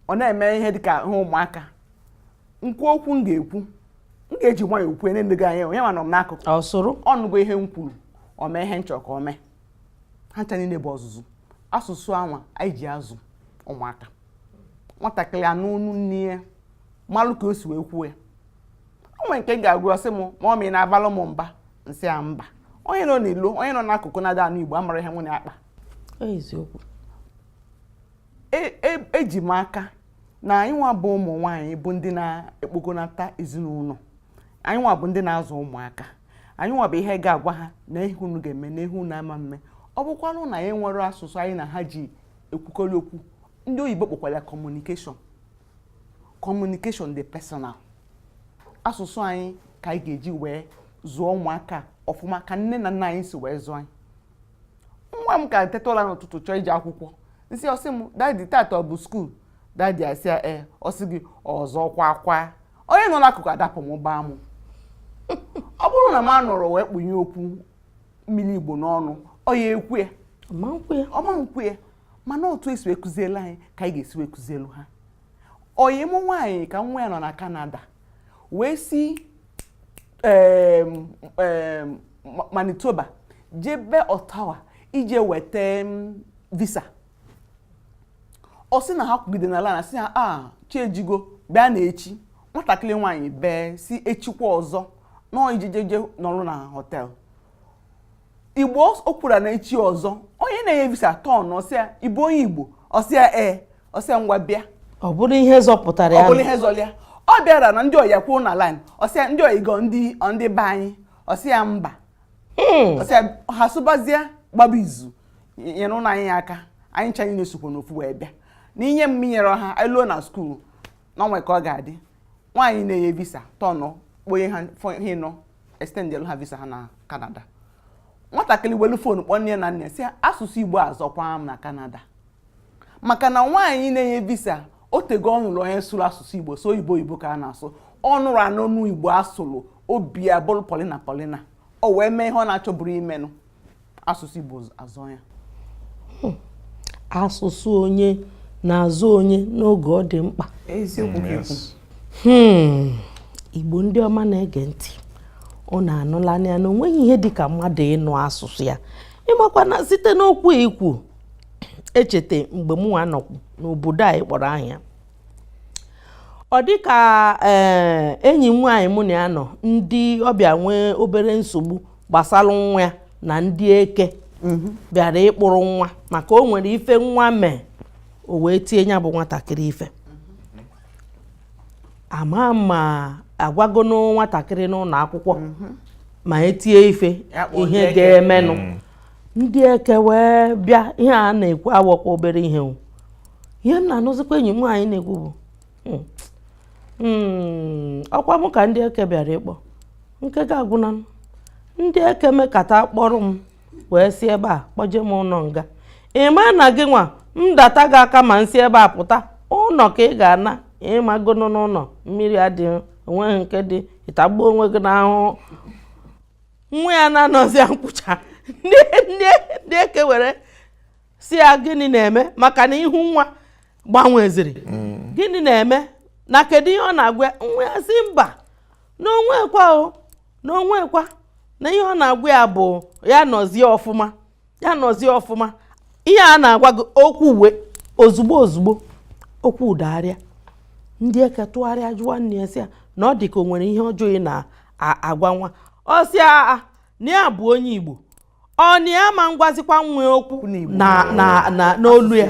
ọ na-eme ihe dịka ihe ụmụaka nkwu okwu m ga-ekwu m ga-eji nwayọọ kwuo ya nee gị anya onye ma nọ m n'akụkụ ọ nụgo ihe m kwuru o mee ihe m chọrọ ka o mee ha ncha niile bụ ọzụzụ asụsụ anwa anyị ji azụ ụmụaka nwatakịrị anụ onu nne ya malụ ka o si wee kwuo ya o nwere nke m ga-agwa ọ sị m mọmi ị na-abalụ m mba nsị ya mba onye nọ n'ilo onye nọ n'akụkụ na-ada anụ igbo amarọ ihe mụ na ya na-akpa eziokwu eji m aka na anyị nwa bụ ụmụ nwaanyị bụ ndị na-ekpokọnata ezinụlọ anyị nwa bụ ndị na-azụ ụmụaka anyị nwa bụ ihe ga-agwa ha na ihe unu ga-eme na ihe unu ama eme ọ bụkwanụ na anyị nwere asụsụ anyị na ha ji ekwukọrị okwu ndị oyibo kpọkwara ya kọmunikeshọn kọmunikeshọn dị personal asụsụ anyị ka anyị ga-eji wee zụọ ụmụaka ọfụma ka nne na nna anyị si wee zụọ anyị nwa m ka teta ụra n'ụtụtụ chọọ ije akwụkwọ nsị ọ sị m dadi tata ọ bụ skuul dadi asị ya ee ọ sị gị ọzọkwa kwa onye nọ n'akụkụ adapụ mụba amụ ọ bụrụ na m anọrọ wee kpunye okwu mmiri igbo n'ọnụ ọ ya-ekwu ya ọ ma-ekwu ya mana otu e si wee kuzielu anyị ka anyị ga-esi wee kuzielu ha ọyị m nwaanyị ka nwa ya nọ na kanada wee si Manitoba jebe Ottawa ije weta visa ọ sị na ha kwụgide na line a sị ha a ah, chi ejigo bịanụ echi nwatakịrị nwaanyị bee sị echikwa ọzọ na ọ ya-eje je nọrọ na họtel igbo o kwuru na echi ọzọ onye na-enye visa tọnụ sị ya ị bụ onye igbo ọ sị ya ee ọ sị ya ngwa bịa ọ bụrụ ihe zọpụtara ya ọ bụrụ ihe zọlụ ya ọ bịara na ndị ọyị ya kwụrụ na line ọ sị ya ndị ọyị gị ọ ndị ndị be anyị ọ sị ya mba hmm. ọ sị ya ha sụbazie gbaba izu nyerenụ anyị aka anyị ncha niine sokwa n'ofu wee bịa na i nye m i nyerọ ha anyị luo na skuul na o nwe ka ọ ga-adị nwaanyị na-enye visa tọnụ kpọnye ha ịnọ extendelu ha visa ha na kanada nwatakịrị welu fon kpọọ nne ya na nna sị asụsụ igbo azọkwa m na kanada maka na nwaanyị na-enye visa o tego ọ nụrụ onye sụrụ asụsụ igbo sọ oyibo oyibo ka a na-asụ ọ nụrụ anụnụ igbo asụrụ obi abụrụ polina polina o wee mee ihe ọ na-achọburọ imenụ asụsụ Igbo azọọ ya hmm. asụsụ onye na-azọ onye n'oge ọ dị mkpa eziokwu hmm. Igbo ndị ọma na-ege ntị unu anụlanụ ya na onweghị ihe dị ka mmadụ ịnụ asụsụ ya ịmakwa na site n'okwu i kwu echeta mgbe mụnwa nọkwu n'obodo anyị kpọrọ ahịa ọ dị ka eh, enyi m nwaanyị mụ na ya nọ ndị ọbịa nwee obere nsogbu gbasara nwa ya na ndị eke mhm. bịara ịkpụrụ nwa maka o nwere ife nwa mee o wee tie ya bụ nwatakịrị ife ama ma a gwago nwatakịrị n'ụlọ akwụkwọ mhm. ma e tie ife ihe ga-emenụ mm. ndị eke wee bịa ihe a na-ekwu awụkwa obere ihe ihe m na-anụzikwa enyi m nwaanyị na-ekwu bụ hmm. Hmm, ọkwa mụ ka ndị eke bịara ịkpọ nke gị agwụna ndị eke mekata kpọrọ m wee si ebe a kpọje m ụlọ nga ịma na gịnwa m data gị aka ma m si ebe a pụta ụlọ ka ị ga-ana ị magonụ na ụlọ mmiri adịghị onweghị nke dị ị tagbuo onwe gị n'ahụhụ nwa ya na-anọzi nkwụcha ndị eke were sị ya gịnị na-eme maka na ihu nwa gbanweziri mm. gịnị na-eme na kedu ihe ọ na-agwa nwa ya sị mba na o nwekwa o na o nwekwa na ihe ọ na-agwa ya bụ ya nọzie ọfụma ya nọzie ọfụma ihe a na-agwa gị okwu wee ozugbo ozugbo okwu adagharịa ndị eke tụgharịa jụwa nne ya sị ya na ọ dị ka o nwere ihe ọjọọ ị na-agwa nwa ọ sị ha na ya bụ onye Igbo ọ na ya ma ngwazikwa nwa ya okwu n'olu ya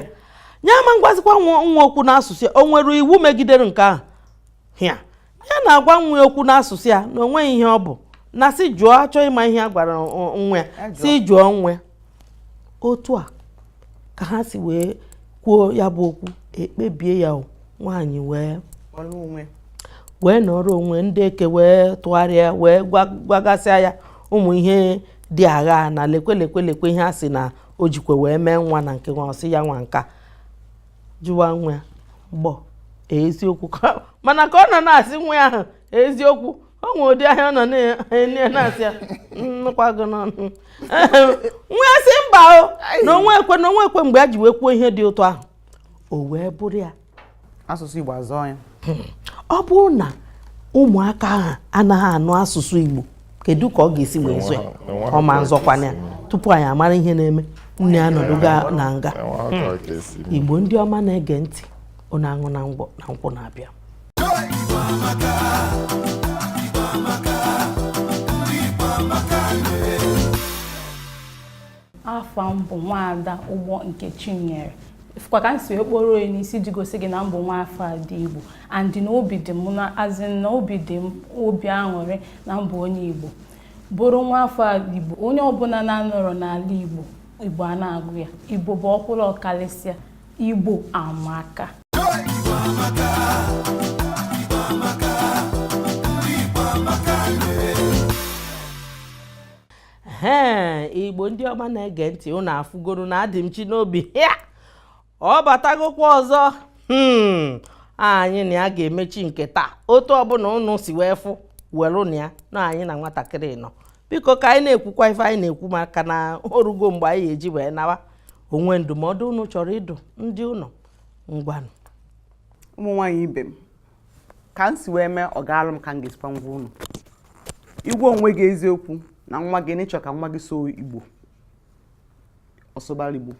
ya ama ngwazikwa nwa ya okwu n'asụsụ ya o nwere iwu megidere nke ahụ ya ya na-agwa nwa ya okwu n'asụsụ ya na onweghị ihe ọ bụ na sị jụọ a chọọ ịma ihe a gwara nwa ya sị jụọ nwa ya otu a ka ha si wee kwuo ya bụ okwu e kpebie ya nwaanyị wee wee nọrọ onwe ndị eke wee tụgharịa wee gwagasịa ya ụmụ ihe dị agha na lekwe lekwe lekwe ihe a sị na o jikwa wee mee nwa na nke nwa ọ sị ya nwa nka jụwa nwa ya gbọ eziokwu mana ka ọ nọ na-asị nwa ya ahụ eziokwu o nwe ụdị anya ọ nọ na-enye ya na-asị ya m nụkwa gị n'ọnụ nwa ya sị mba o na o nwekwa na o nwekwa mgbe ya ji wee kwuo ihe dị otu ahụ o wee bụrụ ya asụsụ Igbo azọọ ya ọ bụrụ na ụmụaka ahụ anaghị anụ asụsụ Igbo kedu ka ọ ga-esi wee zọọ ya ọ ma nzọkwana ya tupu anyị amara ihe na-eme nne ya anọdụgo na nga Igbo ndị ọma na-ege ntị unu anụna nkwụ na-abịa afa m bụ nwaada ụgbọ nkechinyere ị fụkwa ka m si wee kporo onye n'isi ji gosi gị na m bụ nwa afọ ndị igbo and na obi dị m na as in na obi dị m obi aṅụrị na m bụ onye igbo bụrụ nwa afọ igbo onye ọbụla na-anọrọ n'ala igbo igbo a na-agụ ya igbo bụ ọkwụrụ ọkalịsịa Igbo amaka ee igbo ndị ọma na-ege ntị ụnụ afụgoro na Adịmchinobi ya ọ batagokwa ọzọ hmm. anyị na ya ga-emechi nke taa otu ọbụla ụnụ si wee fụ welunụ ya na anyị na nwatakịrị nọ biko ka anyị na-ekwukwa ife anyị na-ekwu maka na o rugo mgbe anyị eji wee nawa o nwee ndụmọdụ unu chọrọ ịdụ ndị ụnọ ngwanụ ụmụ nwaanyị ibe m ka m si wee mee ọ gaalụ m ka m ga-esikwa gwa unu ị gwa onwe gị eziokwu na nwa gị na ị chọ ka nwa gị sụọ igbo ọ sụbara igbo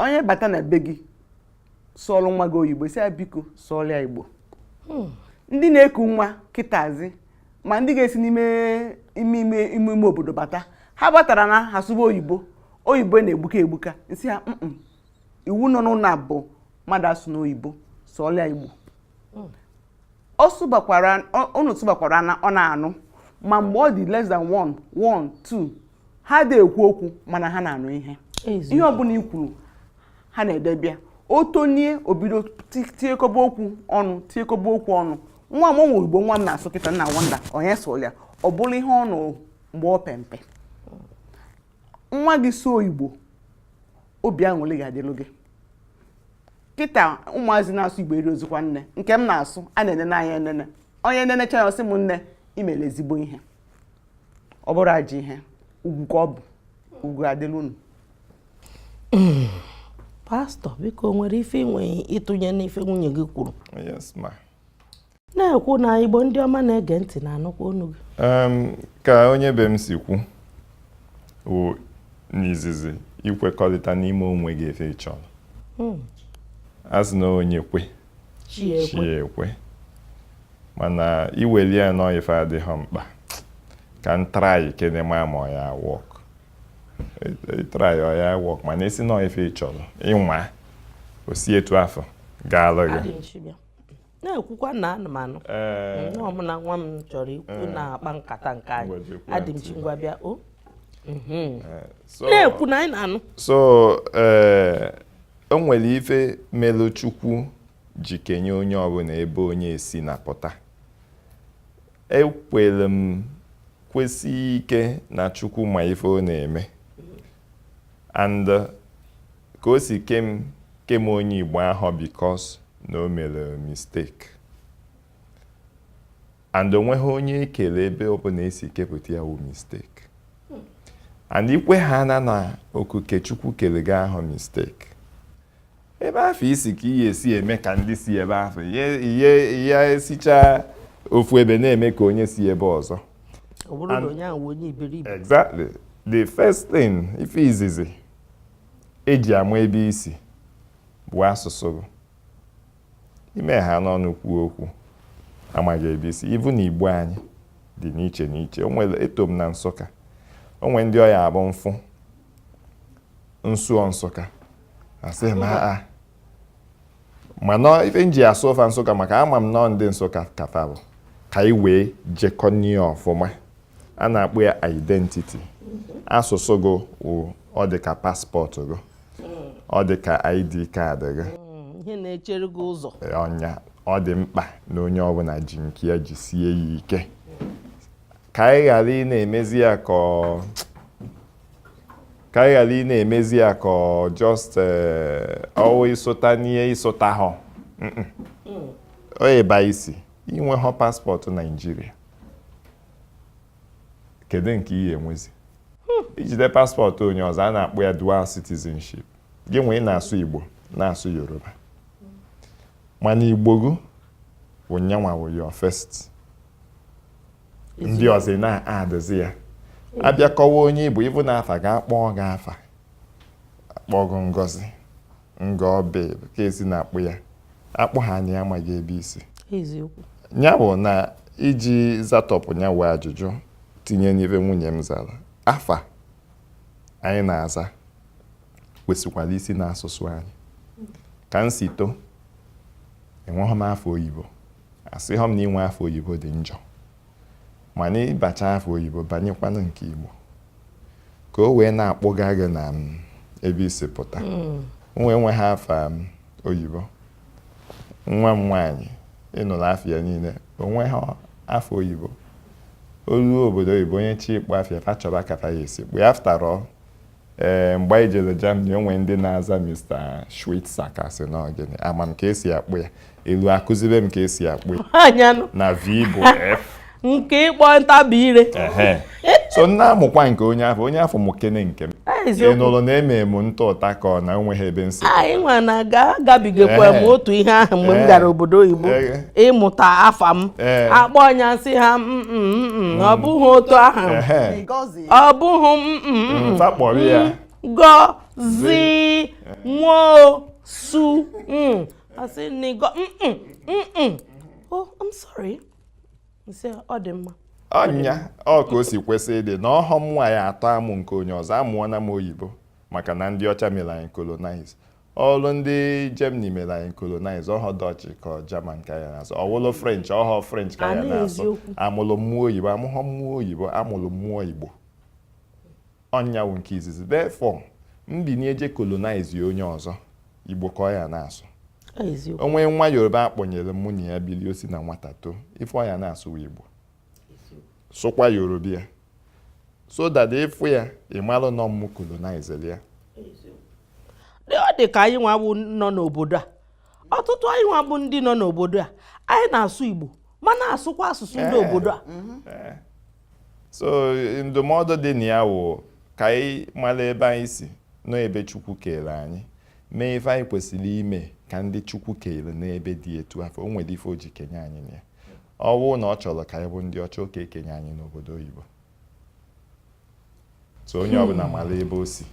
onye bata na be gị sụọlụ nwa gị oyibo sị ya biko sụọlụ ya igbo hmm. ndị na-eku nwa kịtazi ma ndị ga-esi n'ime ime ime ime ime obodo bata ha batara na ha sụba oyibo oyibo na-egbuka egbuka m sị ha iwu nọ n'ụnọ a bụ mmadụ asụna oyibo sụọlụ ya igbo hmm. ọ sụbakwara unu sụbakwara na ọ na-anụ ma mgbe ọ dị less than one one two ha adị ekwu okwu mana ha na-anụ ihe ihe ọbụla i kwuru ha na-edebe ya o tonie o bido tiekọba okwu ọnụ tiekọba okwu ọnụ nwa m o nwee igbo nwa m na-asụ kịta na wonder onye sụlụ ya ọ bụrụ ihe ọ nụ mgbe ọ pe mpe nwa gị sụọ igbo obi aṅụrị ga-adịlụ gị kịta ụmụazị na-asụ igbo erozikwa nne nke m na-asụ a na-enene anya enene onye nenecha ya ọ sị m nne i mere ezigbo ihe ọ bụrọ ajọ ihe ugwu ka ọ bụ ugwu adịlụ unu pastor biko o nwere ife i nwere ịtụnye n'ife nwunye gị kwuru na-ekwu na igbo ndị ọma na-ege ntị na-anụkwa onu gị ka onye be m si kwuo n'izizi ị kwekọrịta n'ime onwe gị ife ị chọrọ hmm. a sị na onye kwe chi ekwe mana i welụ ya na ọ ife adịghị mkpa ka m try kene ma ma ọ ya work try ọ ya work mana ị sị na ọ ife ị chọrọ ịnwa o si etu afụ gaalụ gị na-ekwukwa na ana m anụ ee nwa m na nwa m chọrọ ikwu na-akpa nkata nke anyị Ngwa jekwa adị m ntị. chi ngwa bịa o Mhm. ee, so- na-ekwu na anyị na-anụ so ee o nwere ife melu chukwu ji kenye onye ọbụna ebe onye si na pụta ekwere m kwesie ike na chukwu ma ife ọ na-eme and uh, ka o si kee m kee m onye Igbo awụhọ because na o mere mistake and o nwehọ onye e kele ebe ọbụna esi kepụta ya wụ mistake and ikwe ha na na okuke chukwu kele gị awụhọ mistake ebe afụ i si ka ị ya-esi eme ka ndị si ebe afụ ị ya-esichaa ofu ebe na-eme ka onye si ebe ọzọ exactly the first thing ife izizi eji ama ebe i si bụ asụsụ ime ha n'ọnụ kwuo okwu a ma gị ebe i si even na igbo anyị dị n'iche n'iche o nwere eto m na nsụka o nwere ndị ọ ya-abụ m fụ m sụọ nsụka asị m aa mana ife m ji asụ fa nsụka maka ama m na ọ ndị nsụka ka fa bụ ka anyị wee jekọnie ọfụma a na-akpọ ya identity asụsụ gị wụ ọ dị ka paspọtụ gị ọ dị ka id kaadị gị mm, ihe na-echere gị ụzọ ọ nya ọ dị mkpa na onye ọbụna ji nke ya jisie ya ike ka anyị ghara ị na-emezi ya ka just ọ wụ eh, ịsụta n'ihe ị sụtahọ ebe i si i nwehọ paspọtụ naijiria kedu nke ị ya-enwezi hmm. ijide paspọtụ onye ọzọ a na-akpọ ya dual citizenship gị nwee na-asụ igbo na-asụ yoruba mana igbo gị bụ nyanwa wụ your first ndị ọzọ na-adịzi ya abịa kọwa onye ị bụ even afa a ga-akpọ gị afa akpọ gị ngozi ngọ bụ ka esi na-akpọ ya akpọ ha nya a ma gị ebe i si ya bụ na iji zatọpụ nya wụ ajụjụ tinye n'ife nwunye m zara afa anyị na-aza kwesịkwara isi n'asụsụ anyị ka m si too enwehọ m afa oyibo asịhọ m na inwe afa oyibo dị njọ mana ị bacha afa oyibo banyekwanụ nke Igbo ka o wee na-akpọga gị na mm, ebe i si pụta hmm. nwa enwehọ afa mm, oyibo nwa m nwaanyị ị nụrụ afa ya niile o nwehọ afa oyibo o luo obodo oyibo onye chọọ ịkpọ afa ya fa chọba ka fa ya-esi kpọ ya after all ee mgbe anyị jere Germany o nwere ndị na-aza Mr. Schweitzer ka sị na ọgịnị ama m ka esi akpọ ya elu akụziri m ka esi akpọ ya anyanụ na V bụ F nke ịkpọ ntabi ire ehe so m na-amụkwa nke onye afụ onye afụ mụkene nke m Ah, ị eziokwu nụrụ na eme m ntụ ụta ka ọ na onweghị ebe m sị anyị nwa na ga agabigakwa m Ee. otu ihe ahụ mgbe m Ee. gara obodo oyibo Ee. ịmụta afa m Ee. akpọ ọ nya m sị ha "Mm, mm, mm, mm, ọ bụghị otu ahụ ehe Ngozi ọ bụghị m mm, mm, mm. Nta kpọrọ ya. Ngozi Nwosu mm. a sị na ịgọ mm, mm, mm, mm. oh i'm sorry m sị ọ dị mma ọ nya ọ ka o si kwesị ịdị na ọhọ m nwa ya-atọ amụ nke onye ọzọ amụọna m oyibo maka na ndị ọcha mere anyị colonize ọlụ ndị Germany mere anyị colonize ọhọ Dutch ka German ka ya na-asụ ọwụlụ French ọhọ French ka ya na-asụ amụlụ mụ oyibo amụghọ mụ oyibo amụlụ mụ Igbo ọ nya wụ nke izizi therefore m binie je colonize onye ọzọ Igbo ka ọ ya na-asụ o nwee nwa Yoruba akpọnyere mụ na ya bili o si na nwata too ife ọ ya na-asụ wụ Igbo sụkwa Yoruba ya so that ị fụ ya ị malụ na ọ m colonizere ya ọ dị ka anyị nwa bụ nọ n'obodo a ọtụtụ anyị nwa bụ ndị nọ n'obodo a anyị na-asụ Igbo ma na-asụkwa asụsụ ndị eh. obodo a mm-hmm. eh. so ndụmọdụ dị na ya wụ ka anyị mara ebe anyị si nọ ebe Chukwu kere anyị mee ife anyị kwesịrị ime ka ndị Chukwu kere n'ebe dị etu afụ o nwere ife o ji kenye anyị na ya ọ bụrụ na ọ chọrọ ka anyị bụ ndị ọcha ọ ka-ekenye anyị n'obodo oyibo so onye hmm. ọbụla mara ebe o si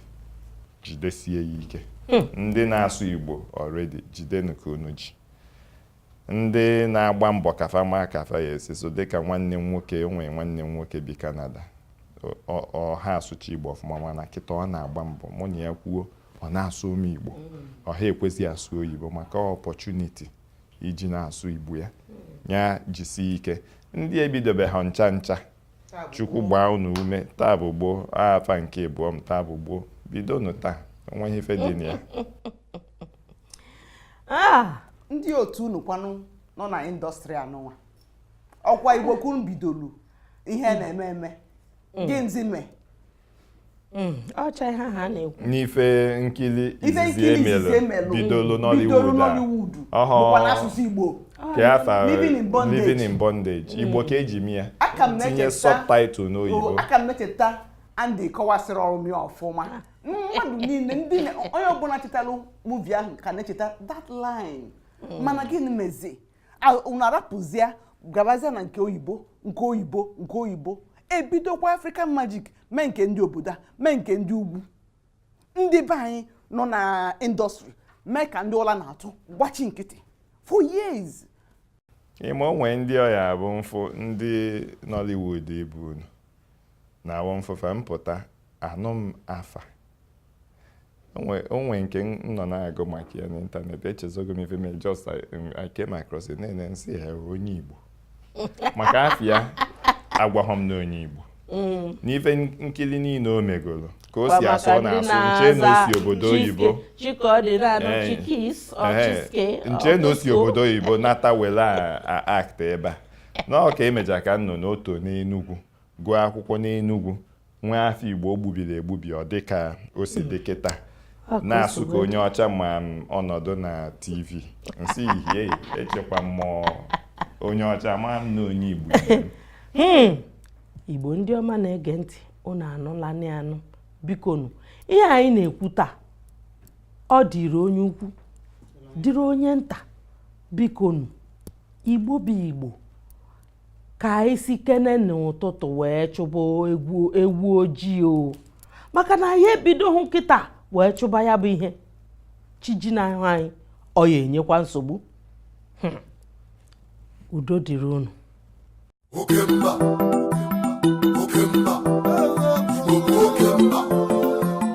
jidesie ya ike hmm. ndị na-asụ igbo already jidenu ka unu ji ndị na-agba mbọ ka fa ma ka fa ya-esi sụọ dịka nwanne m nwoke o nwere nwanne m nwoke bi Canada ọ ha asụcha igbo ọfụma mana kịta ọ na-agba mbọ mụ na ya kwuo ọ na-asụ m igbo hmm. ọ ha ekwezi asụ oyibo maka opportunity iji na-asụ igbo ya ya jisie ike ndị ebidobeha ncha ncha chukwu gbaa unu ume taa bụ gboo afa nke ịbụọ m taa bụ gboo bidonụ taa o nweghị ife dị na ya ah! ndị otu unu kwanụ nọ na industry anụnwa ọ kwa igbo ka unu bidolu ihe na-eme eme mm. gịnịzi mee Hmm, ọcha ihe ha na-ekwu na ife nkiri izizi emelu bidolu Nollywood a bụkwa n'asụsụ Igbo ka afa Living in Bondage hmm. igbo ka eji mee ya tinye subtitle n'oyibo oh, aka m na-echeta Andy kọwasịrọrọ m ya ọfụma mmadụ niile ndị onye ọbụla chetalụ movie ahụ ka na-echeta that line hmm. mana gịnị mezi unu arapụzie gabazie na nke oyibo nke oyibo nke oyibo ebidokwa african magic mee nke ndị obodo a mee nke ndị ugwu ndị be anyị nọ na industry mee ka ndị ụla na-atụ gbachi nkịtị for years ị ma o nwe ndị ọ ya-abụ m fụ ndị Nollywood ibe unu na-abụ m fụ fa mpụta anụ m afa o nwe nke m nọ na-agụ maka ya n'ịntanetị echezogo m ife mee just I came across it na-ene m sị ha onye Igbo maka afa ya agwaghọ m na onye Igbo mm. n'ife nkiri niile o megoro ka o si asụ ọ na-asụ m chee na o si obodo oyibo m chee na o si obodo oyibo nata were act ebe a na ọ ka emechaa ka m nụ na o to n'Enugwu gụọ akwụkwọ n'Enugwu nwa afọ Igbo gbubiri egbubi ọ dị ka o si dị kịta na-asụ ka onye ọcha ma ọ nọdụ na TV m sị ihie echekwa m ọ onye ọcha ama m na onye Igbo hmm. Igbo ndị ọma na-ege ntị unu anụla anụ bikonu ihe anyị na-ekwu taa ọ dịrị onye ukwu dịrị onye nta bikonu Igbo bụ Igbo ka anyị sikene n'ụtụtụ wee chụba ewu ojii o maka na anyị ebidohụ kịta wee chụba ya bụ ihe chi jinahụ anyị ọ ya-enyekwa nsogbu hmm. udo dịrị unu oke mba oke mba oke mba